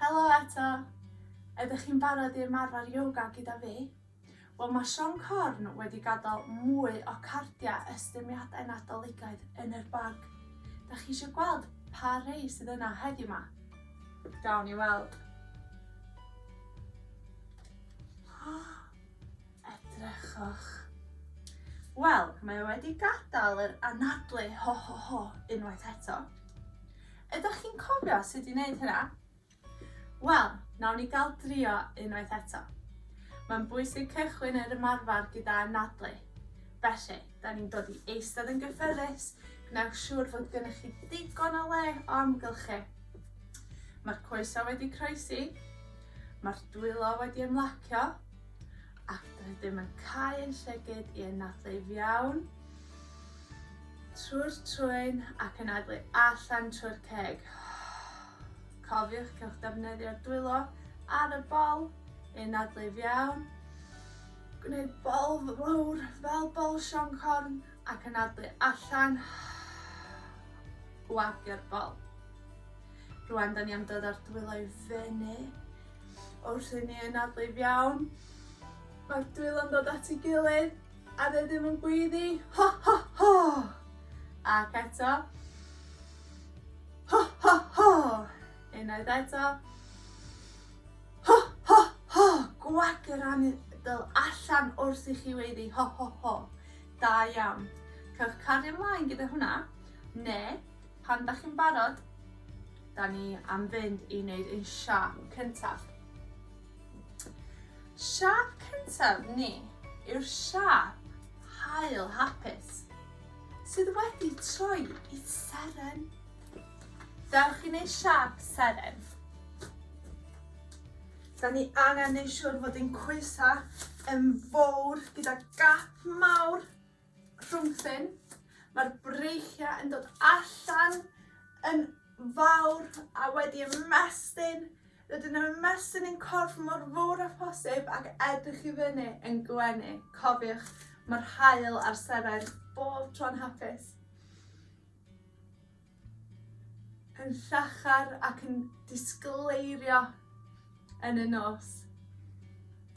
Helo eto! Ydych chi'n barod i ymarfer yoga gyda fi? Wel mae Siom Corn wedi gadael mwy o cardiau estyniadau Nadoligaidd yn yr bag. Dach chi eisiau gweld pa rei sydd yna heddiw 'ma? Gawn ni weld. Edrychwch. Wel, mae o wedi gadael yr anadlu ho ho ho unwaith eto. Ydych chi'n cofio sut i wneud hynna? Wel, nawn ni gael drio unwaith eto. Mae'n bwysig cychwyn yr ymarfer gyda anadlu. Felly, da ni'n dod i eistedd yn gyffyrddus, gwnewch siŵr fod gennych chi digon o le o amgylchu. Mae'r coesau wedi croesi, mae'r dwylo wedi ymlacio, ac rydym yn cael ein llygyd i anadlu fiawn. Trwy'r trwyn ac yn adlu allan trwy'r ceg. Cofiwch, cewch defnyddio'r dwylo ar y bol i nadlu fiawn. Gwneud bol fawr fel bol sioncorn ac yn adlu allan. Gwagio'r bol. Rwan, da ni am dod â'r dwylo i fyny. Wrth i ni ynadlu fiawn, mae'r dwylo'n dod at ei gilydd. A dwi ddim yn gweiddi, ho ho ho! Ac eto, ho ho ho! Unwaith eto, ho ho ho! Gwag yr anadl allan wrth i chi weiddi, ho ho ho! Da iawn. Cewch cario mlaen gyda hwnna, neu pan dach chi'n barod, da ni am fynd i wneud ein siâp cyntaf. Siâp cyntaf ni yw'r siâp haul hapus sydd wedi troi i seren. Dewch i wneud siâp seren. Da ni angen neud siŵr fod ein coesau yn fowr gyda gap mawr Crwmthyn. Mae'r breichiau yn dod allan yn fawr a wedi ymestyn. Rydyn nhw'n ymestyn yn corff mor fawr a phosib ac edrych i fyny yn gwenu. Cofiwch, mae'r hael a'r seren bob tro'n hapus. Yn llachar ac yn disgleirio yn y nos.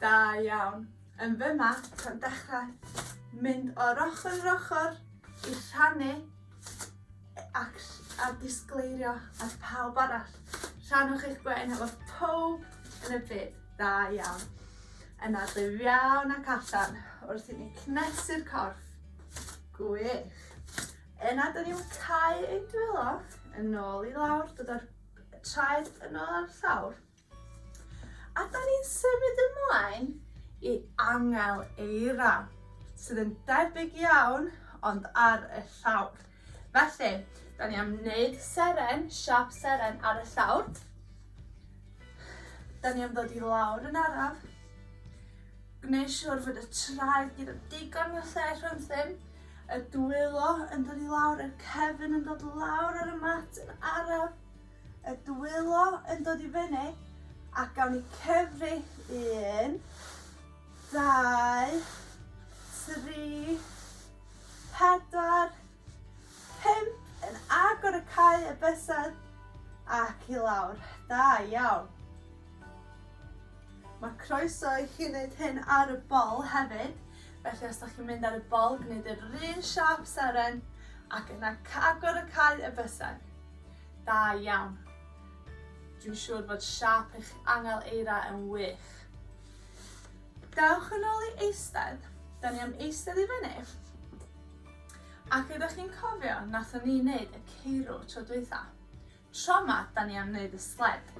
Da iawn. Yn fyma, ta'n dechrau mynd o'r ochr yr ochr i rhannu e- ac ll- a disgleirio at pawb arall. Rhannwch eich gwên efo pawb yn y byd. Da iawn. Yna ddyf iawn ac allan wrth i ni cnesu'r corff. Gwych. Yna dyn ni'n cau ein dwylo, yn ôl i lawr, dod â'r traed yn ôl ar llawr. A da ni'n symud ymlaen i angel eira, sydd yn debyg iawn ond ar y llawr. Felly, da ni am wneud seren, siap seren ar y llawr. Da ni am ddod i lawr yn araf. Gwneud siwr fod y traed gyda digon o lle rhwng ddim Y dwylo yn dod i lawr, yr cefn yn dod lawr ar y mat yn araf. Y dwylo yn dod i fyny, a gawn ni cyfri un, dau, tri, pedwar, pum, yn agor y cae y bysedd ac i lawr. Da iawn. Mae croeso i chi wneud hyn ar y bol hefyd. Felly os dach chi'n mynd ar y bol, gwneud yr un siâp seren ac yna agor y cae y bysedd. Da iawn. Dwi'n siŵr fod siâp eich angel eira yn wych. Dewch yn ôl i eistedd. Da ni am eistedd i fyny. Ac ydych chi'n cofio nathon ni wneud y ceirw tro dwytha? Tro ma da ni am neud y sled.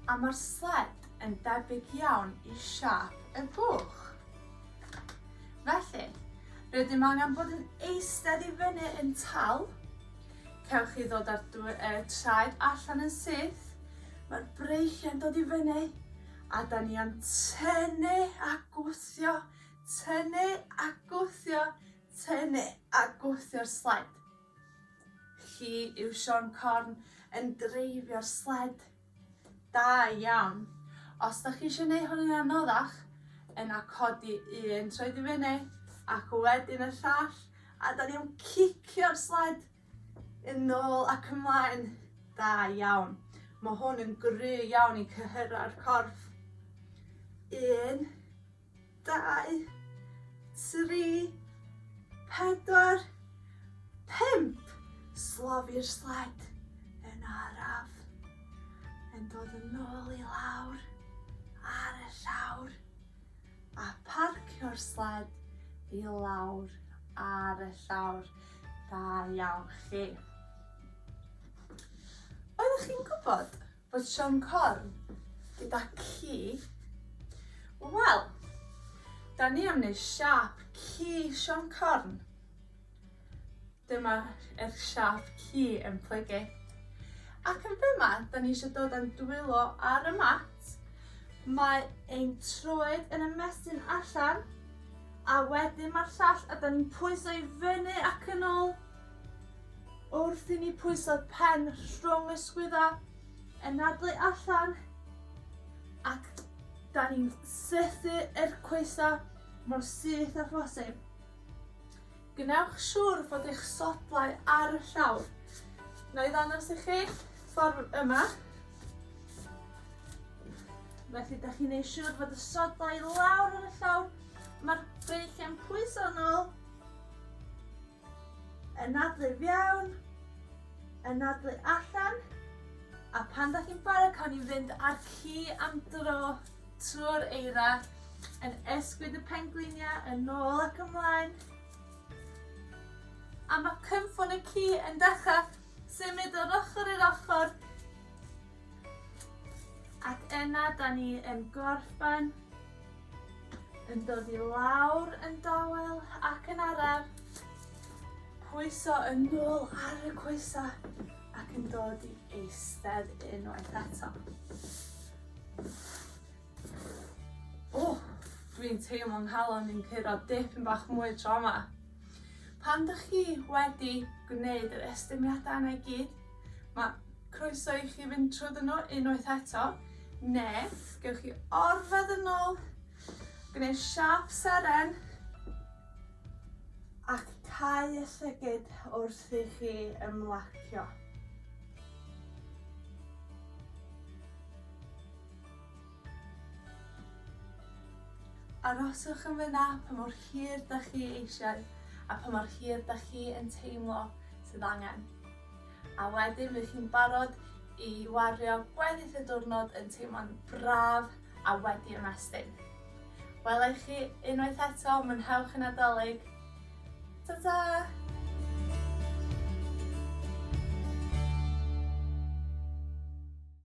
A ma'r sled yn debyg iawn i siâp y buwch. Felly, rydym angen bod yn eistedd i fyny yn tal. Cewch chi ddod â'r uh, traed allan yn syth. Mae'r breichiau'n dod i fyny. A da ni am tynnu a gwthio, tynnu a gwthio, tynnu a gwthio'r sled. Chi yw Siôn Corn yn dreifio'r sled. Da iawn. Os da chi eisiau gwneud hwn yn anoddach, yna codi un troed i fyny ac wedyn y llall, a da ni'n cicio'r sled yn ôl ac ymlaen. Da iawn. Mae hwn yn gry iawn i cyhyrra'r corff. Un, dau, tri, pedwar, pump. Slofi'r sled yn araf. Yn dod yn ôl i lawr ar y llawr a parcio'r sled i lawr ar y llawr. Da iawn chi. Oeddech chi'n gwybod Bod Siôn Corn gyda ci. Wel, da ni am wneud siap ci Siôn Corn. Dyma er siap ci yn plygu. Ac yn fyma, da ni eisiau dod yn dwylo ar y mat. Mae ein troed yn ymestyn allan, a wedyn mae'r llall, a da ni'n pwyso i fyny ac yn ôl. Wrth i ni pwyso pen rhwng y sgwydda, anadlu allan, ac da ni'n sethu yr coesa mor syth â phosib. Gwnewch siŵr fod eich sodlau ar y llawr. Na i ddangos i chi ffordd yma. Felly, da chi'n neud siŵr fod y sodlau lawr ar y llawr. Mae'r beichiau'n pwyso nôl. Anadlu fewn, anadlu allan, a pan da chi'n barod cawn ni fynd ar ci am dro trwy'r eira yn ysgwyd y pengliniau yn ôl ac ymlaen. A mae cynffon y ci yn dechrau symud o'r ochr i'r ochr Ac yna da ni yn gorffen yn dod i lawr yn dawel ac yn araf. Pwyso yn nôl ar y coesa ac yn dod i eistedd unwaith eto. O, dwi'n teimlo nghalon i'n curo dipyn bach mwy tro yma. Pan dych chi wedi gwneud yr estyniadau yna i gyd, mae Croeso i chi fynd trwdd yno unwaith eto, ne' gewch chi orwedd yn ôl, gneu' siâp seren, ac cau y llygid wrth i chi ymlacio. Aroswch yn fyna pa mor hir 'dach chi eisiau, a pa mor hir 'dach chi yn teimlo sydd angen. A wedyn fydd hi'n barod i wario gweddill y diwrnod yn teimlo'n braf a wedi ymestyn. Wela i chi unwaith eto, mwynhewch y Nadolig! Ta ta!